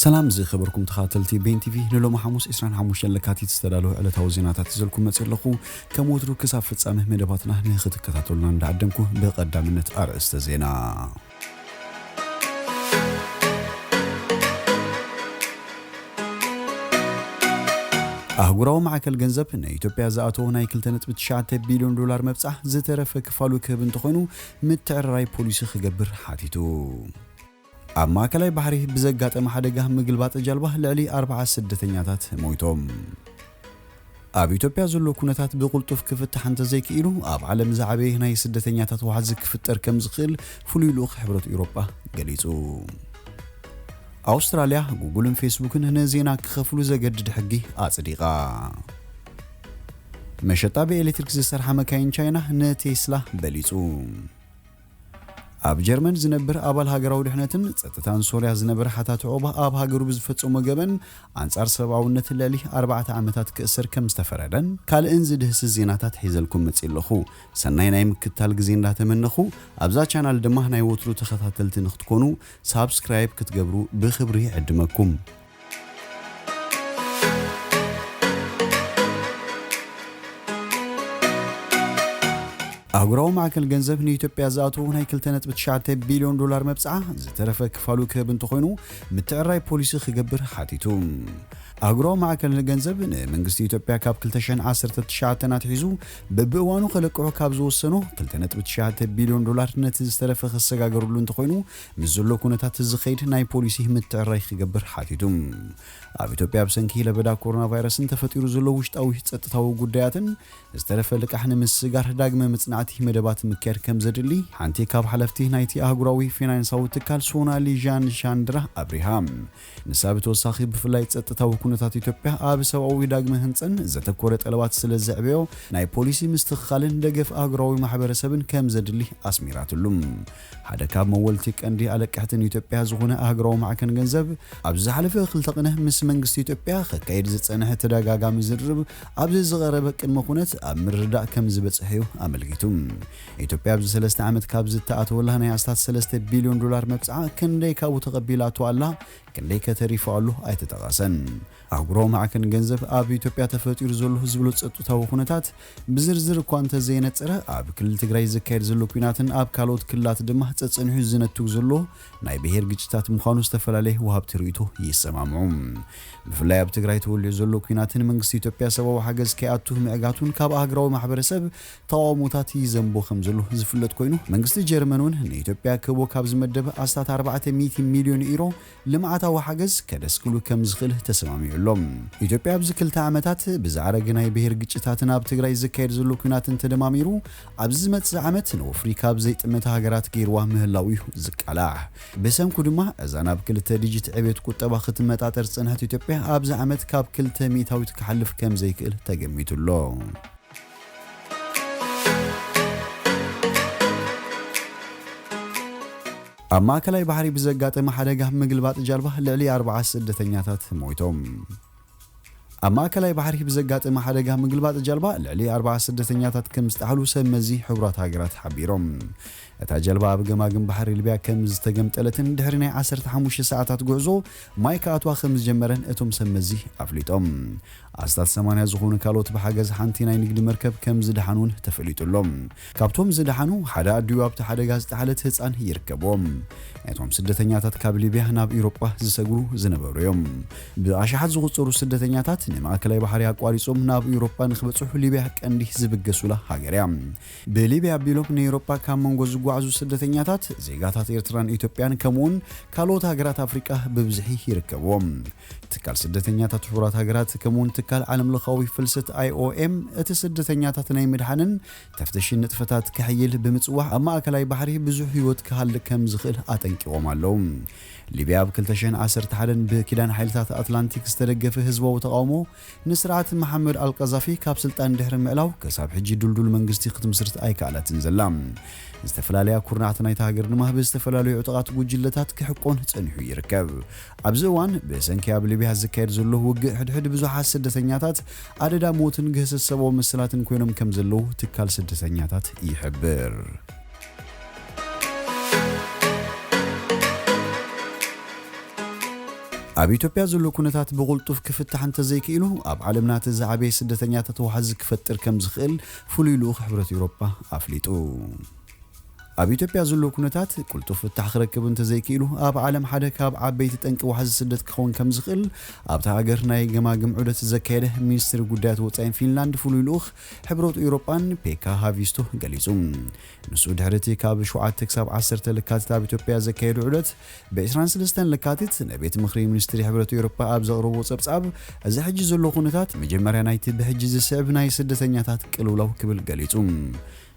ሰላም ዝኸበርኩም ተኻታተልቲ ቤን ቲቪ ንሎሚ ሓሙስ 25 ለካቲት ዝተዳለወ ዕለታዊ ዜናታት ይዘልኩም መጽእ ኣለኹ ከም ወትሩ ክሳብ ፍጻመ መደባትና ንኽትከታተሉና እንዳዓደምኩ ብቐዳምነት ኣርእስተ ዜና ኣህጉራዊ ማዕከል ገንዘብ ንኢትዮጵያ ዝኣተወ ናይ 2.9 ቢልዮን ዶላር መብጻሕ ዝተረፈ ክፋሉ ክህብ እንተኾይኑ ምትዕርራይ ፖሊሲ ክገብር ሓቲቱ። ኣብ ማእከላይ ባሕሪ ብዘጋጠመ ሓደጋ ምግልባጥ ጃልባ ልዕሊ ኣርብዓ ስደተኛታት ሞይቶም። ኣብ ኢትዮጵያ ዘሎ ኩነታት ብቕልጡፍ ክፍታሕ እንተዘይክኢሉ ኣብ ዓለም ዝዓበየ ናይ ስደተኛታት ዋሕዚ ክፍጠር ከምዝኽእል ፍሉይ ልኡኽ ሕብረት ኤውሮጳ ገሊጹ። ኣውስትራልያ ጉግልን ፌስቡክን ንዜና ክኸፍሉ ዘገድድ ሕጊ ኣጽዲቓ። መሸጣ ብኤሌክትሪክ ዝሰርሓ መካይን ቻይና ንቴስላ በሊጹ። ኣብ ጀርመን ዝነብር ኣባል ሃገራዊ ድሕነትን ጸጥታን ሶርያ ዝነበረ ሓታቲ ዑቕባ ኣብ ሃገሩ ብዝፈጸሞ ገበን ኣንጻር ሰብኣውነት ልዕሊ ኣርባዕተ ዓመታት ክእሰር ከም ዝተፈረደን ካልእን ዝድህስስ ዜናታት ሒዘልኩም መጺእ ኣለኹ። ሰናይ ናይ ምክትታል ግዜ እንዳተመነኹ ኣብዛ ቻናል ድማ ናይ ወትሩ ተኸታተልቲ ንኽትኮኑ ሳብስክራይብ ክትገብሩ ብኽብሪ ይዕድመኩም። ኣህጉራዊ ማዕከን ገንዘብ ንኢትዮጵያ ዝኣተዉ ናይ 2.9 ቢልዮን ዶላር መብጽዓ ዝተረፈ ክፋሉ ክህብ እንተኾይኑ ምትዕራይ ፖሊሲ ክገብር ሓቲቱ። ኣህጉራዊ ማዕከን ገንዘብ ንመንግስቲ ኢትዮጵያ ካብ 2019 ኣትሒዙ በብእዋኑ ከለቅሑ ካብ ዝወሰኑ 2.9 ቢልዮን ዶላር ነቲ ዝተረፈ ክሰጋገርሉ እንተኾይኑ ምስ ዘሎ ኩነታት ዝኸይድ ናይ ፖሊሲ ምትዕርራይ ክገብር ሓቲቱ። ኣብ ኢትዮጵያ ብሰንኪ ለበዳ ኮሮና ቫይረስን ተፈጢሩ ዘሎ ውሽጣዊ ጸጥታዊ ጉዳያትን ዝተረፈ ልቃሕ ንምስግጋር ዳግመ መጽናዕቲ መደባት ምክያድ ከምዘድሊ ሓንቲ ካብ ሓለፍቲ ናይቲ ኣህጉራዊ ፊናንሳዊ ትካል ሶናሊ ዣን ሻንድራ ኣብሪሃ። ንሳ ብተወሳኺ ብፍላይ ጸጥታዊ ኩነታት ኢትዮጵያ ኣብ ሰብኣዊ ዳግመ ህንጸን ዘተኮረ ጠለባት ስለ ዘዕበዮ ናይ ፖሊሲ ምስትኽኻልን ደገፍ ኣህጉራዊ ማሕበረሰብን ከም ዘድሊ ኣስሚራትሉ። ሓደ ካብ መወልቲ ቀንዲ ኣለቀሕቲ ንኢትዮጵያ ዝኾነ ኣህጉራዊ ማዕከን ገንዘብ ኣብዚ ዝሓለፈ ክልተ ቅነ ምስ መንግስቲ ኢትዮጵያ ከካይድ ዝጸንሐ ተደጋጋሚ ዝርርብ ኣብዚ ዝቐረበ ቅድመ ኩነት ኣብ ምርድዳእ ከም ዝበጽሐ'ዩ ኣመልኪቱ። ኢትዮጵያ ኣብዚ ሰለስተ ዓመት ካብዚ እተኣተወላ ናይ ኣስታት ሰለስተ ቢልዮን ዶላር መብጽዓ ክንደይ ካብኡ ተቐቢላቶ ኣላ፣ ክንደይከ ተሪፉ ኣሎ ኣይተጠቐሰን። ኣህጉራዊ ማዕከን ገንዘብ ኣብ ኢትዮጵያ ተፈጢሩ ዘሎ ዝብሎ ጸጥታዊ ኩነታት ብዝርዝር እኳ እንተዘየነጸረ ኣብ ክልል ትግራይ ዝካየድ ዘሎ ኲናትን ኣብ ካልኦት ክልላት ድማ ጸጸኒሑ ዝነትግ ዘሎ ናይ ብሄር ግጭታት ምዃኑ ዝተፈላለየ ወሃብቲ ርእይቶ ይሰማምዑ። ብፍላይ ኣብ ትግራይ ተወሊዑ ዘሎ ኲናትን መንግስቲ ኢትዮጵያ ሰብኣዊ ሓገዝ ከይኣቱ ምዕጋቱን ካብ ኣህግራዊ ማሕበረሰብ ተቓውሞታት ይዘንቦ ከምዘሎ ዝፍለጥ ኮይኑ፣ መንግስቲ ጀርመን እውን ንኢትዮጵያ ክህቦ ካብ ዝመደበ ኣስታት ኣርባዕተ ሚእቲ ሚልዮን ኢሮ ልምዓታዊ ሓገዝ ከደስክሉ ከምዝኽእል ተሰማሚዑ ኣሎ። ኢትዮጵያ ኣብዚ ክልተ ዓመታት ብዘኣረገ ናይ ብሄር ግጭታትን ኣብ ትግራይ ዝካየድ ዘሎ ኲናትን ተደማሚሩ ኣብዚ ዝመጽእ ዓመት ንወፍሪ ካብ ዘይጥመታ ሃገራት ገይርዋ ምህላዉ እዩ ዝቃላሕ። ብሰንኩ ድማ እዛ ናብ ክልተ ዲጂት ዕብየት ቁጠባ ክትመጣጠር ዝጸንሐት ኢትዮጵያ ኣብዚ ዓመት ካብ ክልተ ሚእታዊት ክሓልፍ ከምዘይክእል ተገሚቱ ኣሎ። ኣብ ማእከላይ ባሕሪ ብዘጋጠመ ሓደጋ ምግልባጥ ጃልባ ልዕሊ ኣርብዓ ስደተኛታት ሞይቶም። ኣብ ማእከላይ ባሕሪ ብዘጋጠመ ሓደጋ ምግልባጥ ጃልባ ልዕሊ ኣርብዓ ስደተኛታት ከም ዝጠሓሉ ሰብ መዚ ሕቡራት ሃገራት ሓቢሮም። እታ ጀልባ ኣብ ገማግም ባሕሪ ሊብያ ከም ዝተገምጠለትን ድሕሪ ናይ ዓሰርተ ሓሙሽተ ሰዓታት ጉዕዞ ማይ ክኣትዋ ከም ዝጀመረን እቶም ሰብ መዚ ኣፍሊጦም። ኣስታት ሰማንያ ዝኾኑ ካልኦት ብሓገዝ ሓንቲ ናይ ንግዲ መርከብ ከም ዝደሓኑ እውን ተፈሊጡ ኣሎ። ካብቶም ዝደሓኑ ሓደ ኣዲኡ ኣብቲ ሓደጋ ዝጠሓለት ህጻን ይርከብዎም። ናይቶም ስደተኛታት ካብ ሊብያ ናብ ኤውሮጳ ዝሰግሩ ዝነበሩ እዮም። ብኣሽሓት ዝቑጸሩ ስደተኛታት ንማእከላይ ባሕሪ ኣቋሪጾም ናብ ኤውሮጳ ንክበጽሑ ሊብያ ቀንዲ ዝብገሱላ ሃገር እያ። ብሊብያ ኣቢሎም ንኤውሮጳ ካብ መንጎ ዝጓዕዙ ስደተኛታት፣ ዜጋታት ኤርትራን ኢትዮጵያን ከምኡ'ውን ካልኦት ሃገራት ኣፍሪቃ ብብዝሒ ይርከብዎም። ትካል ስደተኛታት ሕቡራት ሃገራት ከምኡ'ውን ትካል ዓለምለኻዊ ፍልሰት፣ IOM፣ እቲ ስደተኛታት ናይ ምድሓንን ተፍትሽን ንጥፈታት ከሕይል ብምጽዋዕ ኣብ ማእከላይ ባሕሪ ብዙሕ ህይወት ክሃልቅ ከም ዝኽእል ኣጠንቂቖም ኣለዉ። ሊብያ ኣብ ክልተ ሽሕን ዓሰርተ ሓደን ብኪዳን ሓይልታት ኣትላንቲክ ዝተደገፈ ህዝባዊ ተቓውሞ ንስርዓት መሓመድ ኣልቃዛፊ ካብ ስልጣን ድሕሪ ምዕላው ክሳብ ሕጂ ድልዱል መንግስቲ ክትምስርት ኣይከኣለትን ዘላ። ዝተፈላለያ ኩርናዓት ናይታ ሃገር ድማ ብዝተፈላለዩ ዕጡቓት ጉጅለታት ክሕቆን ጸኒሑ ይርከብ። ኣብዚ እዋን ብሰንኪ ኣብ ሊብያ ዝካየድ ዘሎ ውግእ ሕድሕድ ብዙሓት ስደተኛታት ኣደዳ ሞትን ግህሰት ሰብኣዊ መሰላትን ኮይኖም ከምዘለዉ ትካል ስደተኛታት ይሕብር። ኣብ ኢትዮጵያ ዘሎ ኩነታት ብቕልጡፍ ክፍታሕ እንተዘይክኢሉ ኣብ ዓለምና እቲ ዝዓበየ ስደተኛታት ዋሕዚ ክፈጥር ከምዝኽእል ፍሉይ ልኡኽ ሕብረት ኤውሮጳ ኣፍሊጡ። ኣብ ኢትዮጵያ ዘሎ ኩነታት ቅልጡፍ ፍታሕ ክረክብ እንተዘይክኢሉ ኣብ ዓለም ሓደ ካብ ዓበይቲ ጠንቂ ዋሕዚ ስደት ክኸውን ከምዝኽእል ኣብታ ሃገር ናይ ገማግም ዑደት ዘካየደ ሚኒስትሪ ጉዳያት ወጻኢን ፊንላንድ ፍሉይ ልኡኽ ሕብረት ኡውሮጳን ፔካ ሃቪስቶ ገሊጹ። ንሱ ድሕሪ'ቲ ካብ ሸውዓተ ክሳብ ዓሰርተ ለካቲት ኣብ ኢትዮጵያ ዘካየዶ ዑደት፣ ብ ዕስራን ሰለስተን ለካቲት ንቤት ምኽሪ ሚኒስትሪ ሕብረት ኤውሮጳ ኣብ ዘቕረቦ ጸብጻብ፣ እዚ ሕጂ ዘሎ ኩነታት መጀመርያ ናይቲ ብሕጂ ዝስዕብ ናይ ስደተኛታት ቅልውላው ክብል ገሊጹ።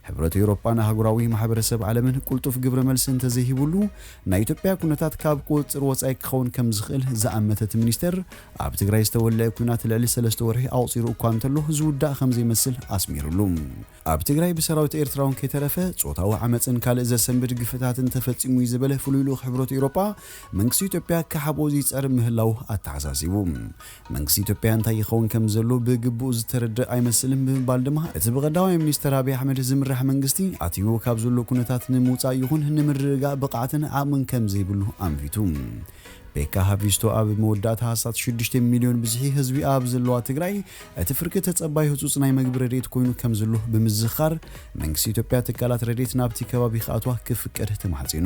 ሕብረት ኤውሮጳን ኣህጉራዊ ማሕበረሰብ ዓለምን ቁልጡፍ ግብረ መልሲ እንተዘይሂቡሉ ናይ ኢትዮጵያ ኩነታት ካብ ቁፅፅር ወፃኢ ክኸውን ከምዝኽእል ዝኣመተ እቲ ሚኒስቴር ኣብ ትግራይ ዝተወለዐ ኲናት ልዕሊ ሰለስተ ወርሒ ኣቑፂሩ እኳ እንተሎ ዝውዳእ ከምዘይመስል ኣስሚሩሉ። ኣብ ትግራይ ብሰራዊት ኤርትራውን ከይተረፈ ፆታዊ ዓመፅን ካልእ ዘሰንብድ ግፍዕታትን ተፈፂሙ እዩ ዝበለ ፍሉይ ልኡኽ ሕብረት ኤውሮጳ መንግስቲ ኢትዮጵያ ክሓብኦ ይፅዕር ምህላዉ ኣተሓሳሲቡ። መንግስቲ ኢትዮጵያ እንታይ ይኸውን ከም ዘሎ ብግቡእ ዝተረድእ ኣይመስልን ብምባል ድማ እቲ ብቀዳማይ ሚኒስተር ኣብይ ኣሕመድ ዝምራሕ መንግስቲ ኣትይዎ ካብ ዘሎ ኩነታት ንምውጻእ ይኹን ንምርግጋእ ብቕዓትን ዓቕምን ከም ዘይብሉ ኣንፊቱ። ቤካ ሃቪስቶ ኣብ መወዳእታ ኣስታት ሽዱሽተ ሚልዮን ብዝሒ ህዝቢ ኣብ ዘለዋ ትግራይ እቲ ፍርቂ ተጸባይ ህጹጽ ናይ መግቢ ረድኤት ኮይኑ ከም ዘሎ ብምዝኻር መንግስቲ ኢትዮጵያ ትካላት ረድኤት ናብቲ ከባቢ ክኣትዋ ክፍቀድ ተማሕጺኑ።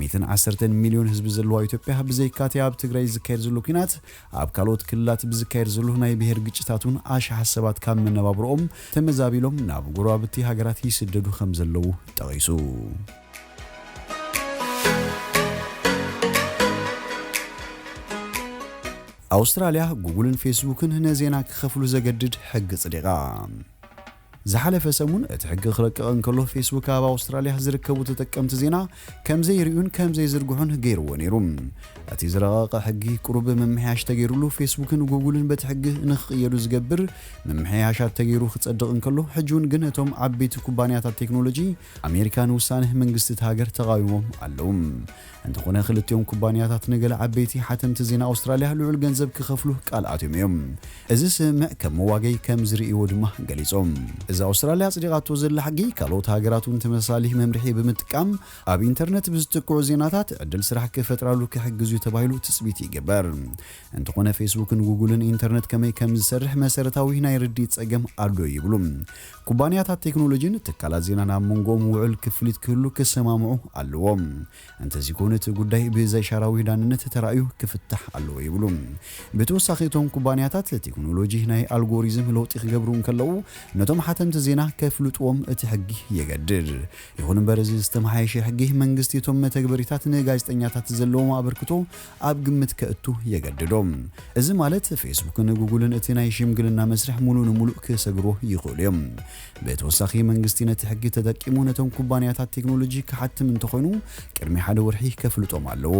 ሚትን ዓሰርተን ሚልዮን ህዝቢ ዘለዋ ኢትዮጵያ ብዘይካ'ቲ ኣብ ትግራይ ዝካየድ ዘሎ ኲናት፣ ኣብ ካልኦት ክልላት ብዝካየድ ዘሎ ናይ ብሄር ግጭታት'ውን ኣሽሓት ሰባት ካብ መነባብሮኦም ተመዛቢሎም ናብ ጎረባብቲ ሃገራት ይስደዱ ከም ዘለዉ ጠቒሱ። ኣውስትራልያ፣ ጉግልን ፌስቡክን ንዜና ክኸፍሉ ዘገድድ ሕጊ ኣጽዲቓ። ዝሓለፈ ሰሙን እቲ ሕጊ ክረቅቕ እንከሎ ፌስቡክ ኣብ ኣውስትራልያ ዝርከቡ ተጠቀምቲ ዜና ከም ዘይርእዩን ከም ዘይዝርግሑን ገይርዎ ነይሩ። እቲ ዝረቐቐ ሕጊ ቁሩብ ምምሕያሽ ተገይሩሉ ፌስቡክን ጉጉልን በቲ ሕጊ ንክቕየዱ ዝገብር ምምሕያሻት ተገይሩ ክጸድቕ እንከሎ ሕጂ'ውን ግን እቶም ዓበይቲ ኩባንያታት ቴክኖሎጂ ኣሜሪካ ንውሳነ መንግስቲ እታ ሃገር ተቓዊሞም ኣለዉ። እንተኾነ ክልቲኦም ኩባንያታት ንገለ ዓበይቲ ሓተምቲ ዜና ኣውስትራልያ ልዑል ገንዘብ ክኸፍሉ ቃል ኣትዮም እዮም። እዚ ስምምዕ ከም መዋገዪ ከም ዝርእይዎ ድማ ገሊጾም። እዚ ኣውስትራልያ ኣጽዲቓቶ ዘላ ሕጊ፣ ካልኦት ሃገራት እውን ተመሳሳሊ መምርሒ ብምጥቃም ኣብ ኢንተርነት ብዝጥቅዑ ዜናታት ዕድል ስራሕ ክፈጥራሉ ክሕግዝ እዩ ተባሂሉ ትጽቢት ይግበር። እንተኾነ ፌስቡክን ጉጉልን ኢንተርነት ከመይ ከም ዝሰርሕ መሰረታዊ ናይ ርድኢት ጸገም ኣሎ ይብሉ ኩባንያታት ቴክኖሎጂን ትካላት ዜናን ኣብ መንጎኦም ውዑል ክፍሊት ክህሉ ክሰማምዑ ኣለዎም። እንተዚኮይኑ እቲ ጉዳይ ብዘይሻራዊ ዳንነት ተራእዩ ክፍታሕ ኣለዎ ይብሉ። ብተወሳኺ እቶም ኩባንያታት ቴክኖሎጂ ናይ ኣልጎሪዝም ለውጢ ክገብሩ እንከለዉ ነቶም ሓተምቲ ዜና ከፍልጥዎም እቲ ሕጊ የገድድ። ይኹን እምበር እዚ ዝተመሓየሸ ሕጊ መንግስቲ እቶም መተግበሪታት ንጋዜጠኛታት ዘለዎም ኣበርክቶ ኣብ ግምት ከእቱ የገድዶ። እዚ ማለት ፌስቡክን ጉጉልን እቲ ናይ ሽምግልና መስርሕ ሙሉእ ንሙሉእ ክሰግርዎ ይኽእሉ እዮም። ብተወሳኺ መንግስቲ ነቲ ሕጊ ተጠቂሙ ነቶም ኩባንያታት ቴክኖሎጂ ክሓትም እንተኾይኑ ቅድሚ ሓደ ወርሒ ከፍልጦም ኣለዎ።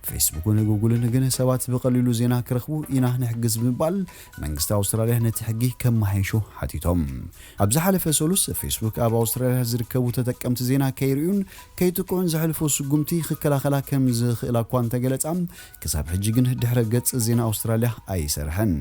ፌስቡክን ጉጉልን ግን ሰባት ብቐሊሉ ዜና ክረኽቡ ኢና ንሕግዝ ብምባል መንግስቲ ኣውስትራሊያ ነቲ ሕጊ ከመሓይሾ ሓቲቶም። ኣብ ዝሓለፈ ሰሉስ ፌስቡክ ኣብ ኣውስትራሊያ ዝርከቡ ተጠቀምቲ ዜና ከይርእዩን ከይጥቅዑን ዘሕልፎ ስጉምቲ ክከላኸላ ከም ዝኽእላ እኳ እንተገለጻ፣ ክሳብ ሕጂ ግን ድሕረ ገጽ ዜና ኣውስትራልያ ኣይሰርሐን።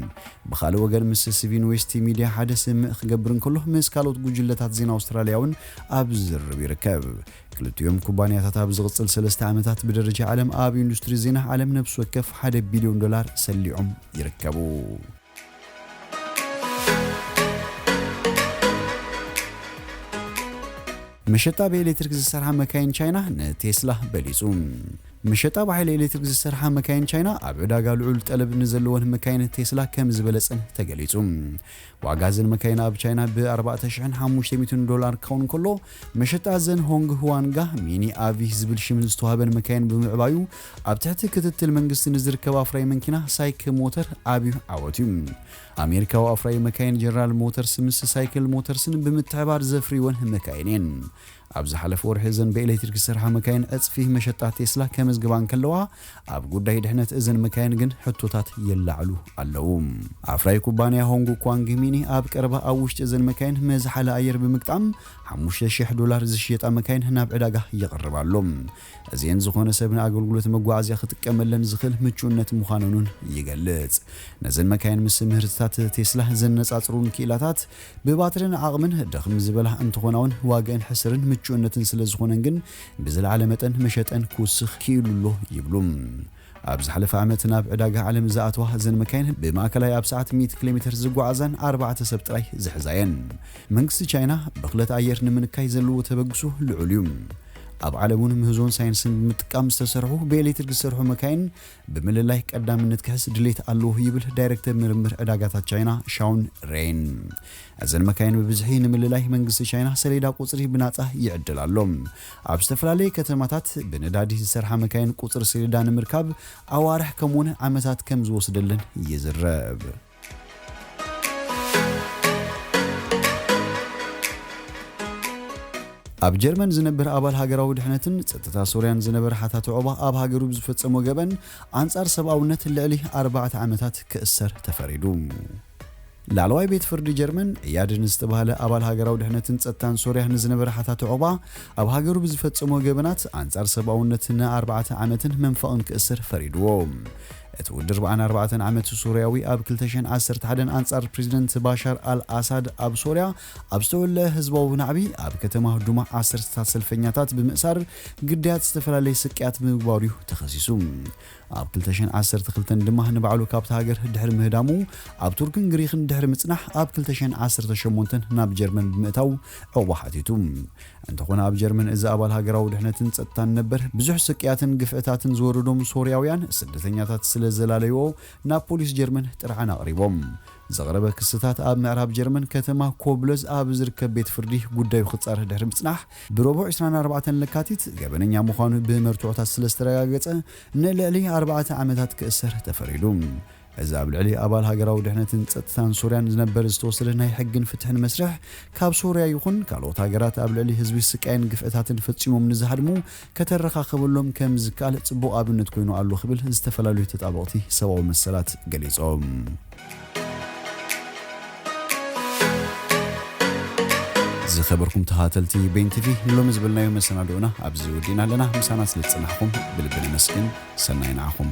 ብኻልእ ወገን ምስ ስቪን ዌስቲ ሚድያ ሓደ ስምምዕ ክገብር እንከሎ፣ ምስ ካልኦት ጉጅለታት ዜና ኣውስትራልያ'ውን ኣብ ዝርርብ ይርከብ። ክልቲኦም ኩባንያታት ኣብ ዝቕጽል ሰለስተ ዓመታት ብደረጃ ዓለም ኣብ ኢንዱስትሪ ዜና ዓለም ነብሲ ወከፍ ሓደ ቢልዮን ዶላር ሰሊዖም ይርከቡ። መሸጣ ብኤሌክትሪክ ዝሰርሓ መካይን ቻይና ንቴስላ በሊጹ። መሸጣ ብሓይሊ ኤሌክትሪክ ዝሰርሓ መካይን ቻይና ኣብ ዕዳጋ ልዑል ጠለብ ንዘለወን መካይን ቴስላ ከም ዝበለጸን ተገሊጹ። ዋጋ እዘን መካይን ኣብ ቻይና ብ 4,500 ዶላር ክኸውን ከሎ መሸጣ እዘን ሆንግ ሁዋንጋ ሚኒ ኣቪህ ዝብል ሽም ዝተዋህበን መካይን ብምዕባዩ ኣብ ትሕቲ ክትትል መንግስቲ ንዝርከብ ኣፍራዪ መንኪና ሳይክ ሞተር ኣብዩ ዓወት እዩ። ኣሜሪካዊ ኣፍራዪ መካይን ጀነራል ሞተርስ ምስ ሳይክል ሞተርስን ብምትሕባር ዘፍርዩወን መካይን እየን። ኣብ ዝሓለፈ ወርሒ እዘን ብኤሌክትሪክ ዝሰርሓ መካይን ዕፅፊ መሸጣ ቴስላ ከመዝግባ እንከለዋ፣ ኣብ ጉዳይ ድሕነት እዘን መካይን ግን ሕቶታት ይለዓሉ ኣለዉ። ኣፍራዪ ኩባንያ ሆንግ ኳንግ ሚኒ ኣብ ቀረባ ኣብ ውሽጢ እዘን መካይን መዝሓሊ ኣየር ብምግጣም ሓሙሽተ ሽሕ ዶላር ዝሽየጣ መካይን ናብ ዕዳጋ የቕርብ ኣሎ። እዚኤን ዝኾነ ሰብ ንኣገልግሎት መጓዓዝያ ክጥቀመለን ዝኽእል ምቹእነት ምዃነን'ውን ይገልጽ። ነዘን መካይን ምስ ምህርትታት ቴስላ ዘነጻጽሩን ክኢላታት፣ ብባትርን ዓቕምን ድኽም ዝበላ እንትኾናውን ዋግእን ሕስርን ምቹእነትን ስለ ዝኾነን ግን ብዝለዓለ መጠን መሸጠን ክውስኽ ክኢሉ ኣሎ ይብሉ። ኣብ ዝሓለፈ ዓመት ናብ ዕዳጋ ዓለም ዝኣተዋ እዘን መካይን ብማእከላይ ኣብ ሰዓት ሚእቲ ኪሎሜተር ዝጓዓዛን ኣርባዕተ ሰብ ጥራይ ዝሕዛ እየን። መንግስቲ ቻይና ብኽለት ኣየር ንምንካይ ዘለዎ ተበግሶ ልዑል እዩ። ኣብ ዓለምውን ምህዞን ሳይንስን ብምጥቃም ዝተሰርሑ ብኤሌትሪክ ዝሰርሑ መካይን ብምልላይ ቀዳምነት ክሕዝ ድሌት ኣለዎ ይብል ዳይረክተር ምርምር ዕዳጋታት ቻይና ሻውን ሬን። እዘን መካይን ብብዝሒ ንምልላይ መንግስቲ ቻይና ሰሌዳ ቁጽሪ ብናጻ ይዕድል ኣሎ። ኣብ ዝተፈላለየ ከተማታት ብነዳዲ ዝሰርሓ መካይን ቁጽሪ ሰሌዳ ንምርካብ ኣዋርሕ ከምኡ'ውን ዓመታት ከም ዝወስደለን ይዝረብ። ኣብ ጀርመን ዝነብር ኣባል ሃገራዊ ድሕነትን ጸጥታ ሶርያን ዝነበረ ሓታቲ ዑቕባ ኣብ ሃገሩ ብዝፈጸሞ ገበን ኣንጻር ሰብኣውነት ልዕሊ ኣርባዕተ ዓመታት ክእሰር ተፈሪዱ። ላዕለዋይ ቤት ፍርዲ ጀርመን እያድ ንዝተባህለ ኣባል ሃገራዊ ድሕነትን ጸጥታን ሶርያ ንዝነበረ ሓታቲ ዑቕባ ኣብ ሃገሩ ብዝፈጸሞ ገበናት ኣንጻር ሰብኣውነት ንኣርባዕተ ዓመትን መንፈቕን ክእሰር ፈሪድዎ። እቲ ውድር ብኣን ኣርባዕተን ዓመት ሱርያዊ ኣብ ክልተ ሽሕን ዓሰርተ ሓደን ኣንጻር ፕሪዚደንት ባሻር ኣል ኣሳድ ኣብ ሶርያ ኣብ ዝተወለዐ ህዝባዊ ናዕቢ ኣብ ከተማ ዱማ ዓሰርተታት ሰልፈኛታት ብምእሳር ግዳያት ዝተፈላለየ ስቅያት ብምግባሩ'ዩ ተኸሲሱ። ኣብ ክልተ ሽሕን ዓሰርተ ክልተን ድማ ንባዕሉ ካብታ ሃገር ድሕሪ ምህዳሙ ኣብ ቱርክን ግሪኽን ድሕሪ ምጽናሕ ኣብ ክልተ ሽሕን ዓሰርተ ሸሞንተን ናብ ጀርመን ብምእታው ዑቕባ ሓቲቱ። እንተኾነ ኣብ ጀርመን እዚ ኣባል ሃገራዊ ድሕነትን ጸጥታን ነበር፣ ብዙሕ ስቅያትን ግፍዕታትን ዝወረዶም ሶርያውያን ስደተኛታት ስለ ዘላለዩዎ ናብ ፖሊስ ጀርመን ጥርዓን ኣቕሪቦም። ዝቕረበ ክስታት ኣብ ምዕራብ ጀርመን ከተማ ኮብለዝ ኣብ ዝርከብ ቤት ፍርዲ ጉዳዩ ክጻረ ድሕሪ ምጽናሕ ብሮቡዕ ዕስራን ኣርባዕተን ለካቲት ገበነኛ ምዃኑ ብመርትዖታት ስለ ዝተረጋገጸ ንልዕሊ ኣርባዕተ ዓመታት ክእሰር ተፈሪዱ። እዚ ኣብ ልዕሊ ኣባል ሃገራዊ ድሕነትን ጸጥታን ሶርያን ዝነበር ዝተወሰደ ናይ ሕግን ፍትሕን መስርሕ፣ ካብ ሶርያ ይኹን ካልኦት ሃገራት ኣብ ልዕሊ ህዝቢ ስቃይን ግፍዕታትን ፈጺሞም ንዝሃድሙ ከተረኻኸበሎም ከም ዝከኣል ጽቡቕ ኣብነት ኮይኑ ኣሎ ክብል ዝተፈላለዩ ተጣበቕቲ ሰብኣዊ መሰላት ገሊጾም። ዝኸበርኩም ተኸታተልቲ በይን ቲቪ ንሎሚ ዝበልናዮ መሰናድኦና ኣብዚ ወዲእና ኣለና። ምሳና ስለ ዝጸናሕኩም ብልቢ ነመስግን። ሰናይ ንዓኹም።